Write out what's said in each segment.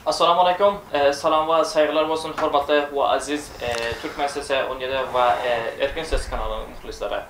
Assalamu Aleykum, Salam we Saýgylar bolsun hormatly we aziz Türkmen sesi on ýedi we Erkin ses kanalynyň muhlyslary.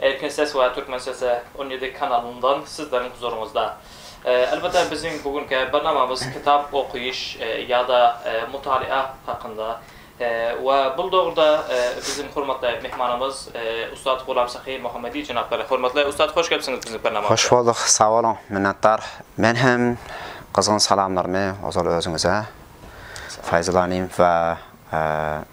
Erkin ses we Türkmen sesi on ýedi kanalyndan sizleriň huzuryňyzda. Elbetde biziň bu günki barnamamyz kitap okyş ýa-da mutalýa hakynda we bul dogrda biziň hormatly myhmanymyz ussat Gulam Sahy Muhammedi jenaplary. Hormatly ussat hoş gelipsiňiz biziň barnamamyza. Hoş bolduk, sag boluň, minnetdar. Men hem gyzgyn salamlarymy ozal özüňize, Faýzulanyň we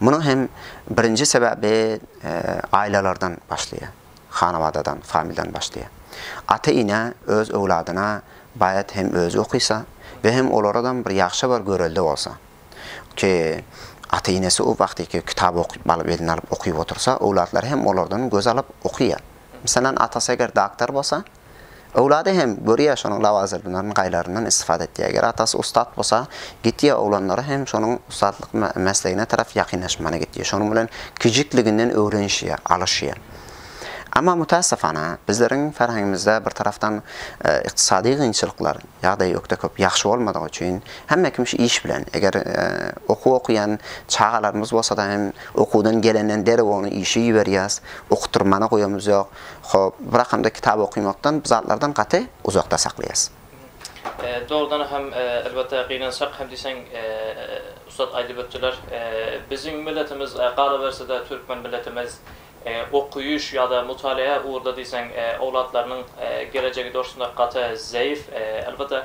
Munuň hem birinji sebäbi ailelerden başlaýar. Hanawadadan, familiýadan başlaýar. Ata-ene öz öwladyna baýat hem özi okysa we hem olaradam bir ýagşy bir görelde bolsa. Ki ata-enesi o wagtyky kitap okyp balyp eline alyp okyp otursa, öwlatlary hem olardan göz alyp okyýar. Meselem atasy eger doktor bolsa, Öwlady hem görýär şonuň lawazyrdylaryny gaýlaryndan istifada etýär. Eger atasy ussat bolsa gitýär oglanlary hem şonuň ussatlyk meslegine tarap ýakynlaşmana gitýär. Şonuň bilen kijikliginden öwrenişýär, alyşýar. Amma mütässefana bizleriň ferhengimizde bir tarapdan ykdysady gynçylyklar, ýagdaýy ökde köp ýagşy bolmadygy üçin hemme kim şu iş bilen eger okuw okuýan çagalarymyz bolsada hem okuwdan gelenden derrew ony işe iberýäs, okutdyrmana goýamyz ýok. Hop, bir hakam-da kitap okymakdan, bu zatlardan gaty uzakda saklaýas. Dogrudan hem, elbetde, gynansak hem diýseň, ussat aýdyp ötdüler, biziň milletimiz, galaberse-de, türkmen milletimiz okaýyş ýa-da mutalaýa ugurda diýseň, owlatlarynyň gelejegi dostunda gaty zeýif. Elbetde,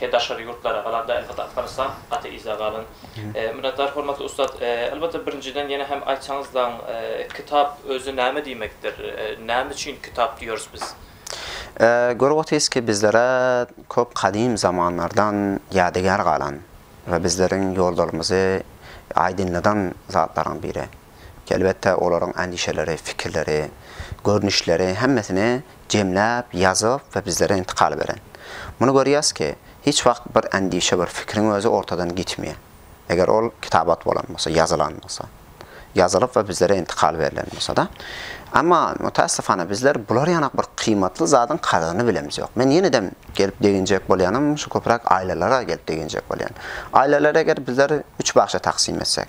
Ke daşary ýurtlara galanda elbetde Afganistan gaty yza galan. Minnetdar hormatly ussat. Elbetde birinjiden ýene hem aýtsaňyzlaň kitap özi näme diýmekdir? Näme üçin kitap diýeris biz? Görüp otyrys ki bizlere köp gadym zamanlardan ýadygär galan we bizleriň ýollarymyzy aýdynladan zatlaryň biri. Elbetde, olaryň endişeleri, pikirleri, görnüşleri hemmesini jemläp, ýazyp we bizlere intikal beren. Muny görýäs ki, hiç wagt bir endişe, bir pikiriň özi ortadan gitmeýär. Eger ol kitabat bolan bolsa, ýazylan bolsa. Ýazylyp we bizlere intikal berlen bolsa-da. Emma, mütässifana, bizler bular ýanak bir kyýmatly zadyň kadyryny bilemz ýok. Men ýene-dem gelip deginjek bolýanym, şu köpräk aýlalara gelip deginjek bolýan. Aýlalary eger bizler üç bagşa taksym etsek.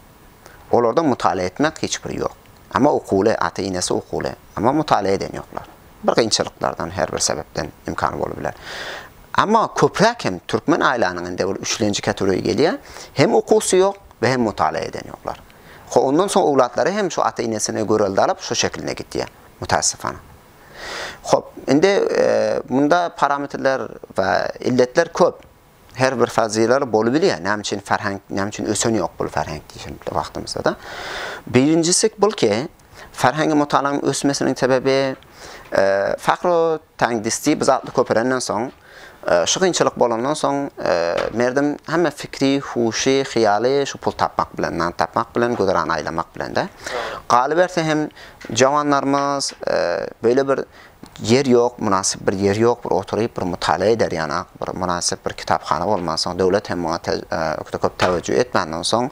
Olarda mutala etmek hiç bir ýok. Ama okuwly, ata enesi okuwly. Ama mutala eden ýoklar. Bir gynçylyklardan her bir sebepden imkany bolup biler. Ama köpräk hem türkmen aýlanyň indi bir üçlenji kategoriýa gelýä. Hem okuwsy ýok we hem mutala eden ýoklar. Ho ondan soň owlatlary hem şu ata enesini görelde alyp şu şekilne gitýä. Mutasyfana. Hop indi munda parametrler we illetler köp. Her bir fazylar bolup bilýär. Näme üçin ferhenk, näme üçin ösen ýok bul ferhenk diýşen wagtymyzda-da. Birinjisi bul ki, ferhengi mutalanyň ösmesiniň sebäbi e, Fahro Tangdisti bu zatly köperenden soň, e, şu kynçylyk bolandan soň, e, merdim hemme fikri, huşy, hyýaly şu pul tapmak bilen, nan tapmak bilen, güzeran aýlamak bilen-de. Galyberse hem, jawanlarymyz e, beýle bir Ýer ýok, mynasyp bir ýer ýok, bir oturyp bir mutala eder ýana, bir mynasyp bir kitaphana bolman soň, döwlet hem muňa ökde köp täwejjüh etmänden soň,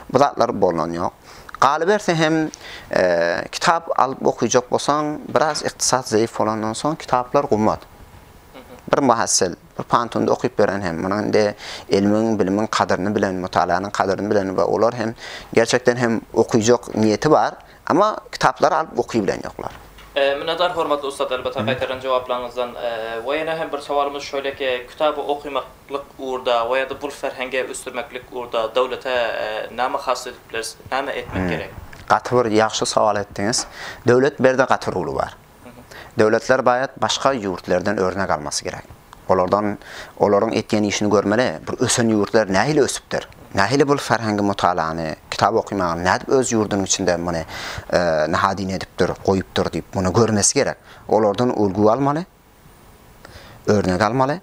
bu zatlar bolnan ýok. Galyberse hem, kitap alyp okyjak bolsaň, biraz ykdysat zeýif bolandan soň kitaplar gymmat. Bir muhassyl, bir pantuny okyp beren hem, munuň indi ilmiň, bilimiň kadyryny bilen, mutalanyň kadyryny bilen we olar hem gerçekden hem okyjak niýeti bar, Amma kitaplary alyp oky bilen ýoklar. Minnetdar hormatly ussat elbetde gaýtarylan jogaplaryňyzdan. We ýene hem bir sowalymyz şöyleki kitaby okymaklyk ugurda we ýada bul ferhengi ösdürmeklik ugurda döwlete name has edip bileris, name etmek gerek? Gaty bir ýagşy sowal etdiňiz. Döwlet berde gaty ruly bar. Döwletler baýat başga ýurtlerden örnek almasy gerek. Olardan olaryň etýän işini görmeli. Bir ösen ýurtlar nähili ösüpdir? Nähili bul ferhengi mutalany, kitap okymagy nädip öz ýurdunyň içinde muny nahadini edipdir, goýupdyr diýip muny görmesi gerek. Olardan ulgy almaly. Örnek almaly.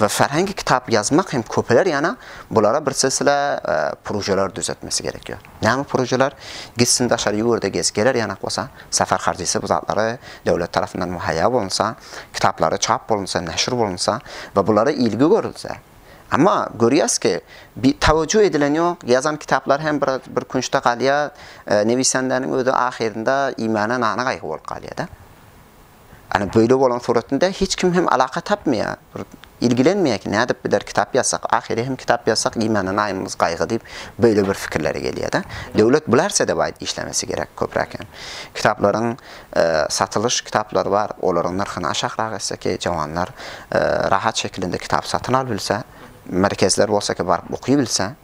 we ferhengi kitap ýazmak hem köpeler ýana bulara bir silsile prujeler düzetmesi gerek ýo. Näme prujeler? Gitsin daşary ýurda gez geler ýanak bolsa, safer harjysy bu zatlary döwlet tarapyndan muhaýýa bolunsa, kitaplary çap bolunsa, neşir bolunsa we bulara ilgi görülse. Amma görýäs ki, bi tawejju edilen ýok, ýazan kitaplar hem bir bir künçde galýa, newisandäniň özi ahyrynda iýmäne nana gaýgy bolup galýada. Ýagny beýle bolan suratynda hiç kim hem alaka tapmaýar, bir ilgilenmeýär ki, nädip bider kitap ýazsak, ahyry hem kitap ýazsak iýmäne naýymyz gaýgy diýip beýle bir fikirlere gelýärdi. Döwlet bular sedebaýt işlemesi gerek köpräk hem. Kitaplaryň satylyş kitaplary bar, olaryň nyrhyny aşakrak etse ki, jawanlar rahat şekilinde kitap satyn al bilse, merkezler bolsa ki, baryp oky bilse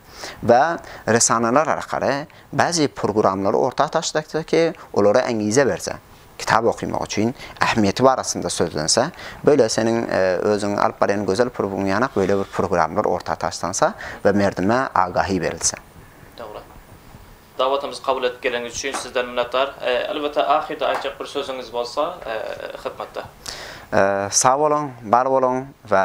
we resaneler arkaly bäzi purguramlary orta taşlakda ki, olara äňize berse. Kitap okymak üçin ähmiýeti barasynda sözlense, böle seniň özüň alyp barýan gözel purybyň ýanak böle bir purgramlar orta taşlansa we merdime agahi berilse. Dogry. Dawatymyzy kabul edip geleniňiz üçin sizden minnetdar. Elbetde ahyrda aýtjak bir sözüňiz bolsa hytmatda. Sag boluň, bar boluň we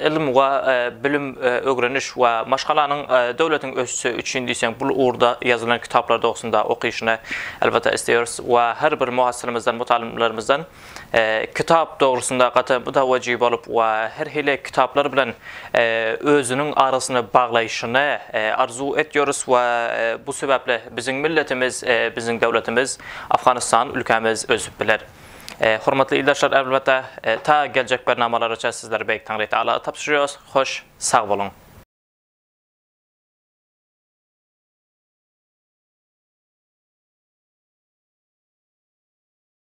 Ylym we bilim, ögreniş we maşgalanyň döwletiň ösüşi üçin diýseň bul ugurda ýazylan kitaplar dogrusynda okyşyny elbetde isleýeris we her bir muhasyrymyzdan, mutalimalarymyzdan kitap dogrusynda gaty mutawajy bolup we her hili kitaplar bilen özüniň arasyny baglaýşyny arzuw etýoris we bu sebäpli biziň milletimiz, biziň döwletimiz Afganystan ülkämiz ösüp biler. Hormatly ildeşler elbetde ta geljek bernamalaraça sizleri Beýik Taňry Tagala tabşyrýarys. Hoş sag boluň.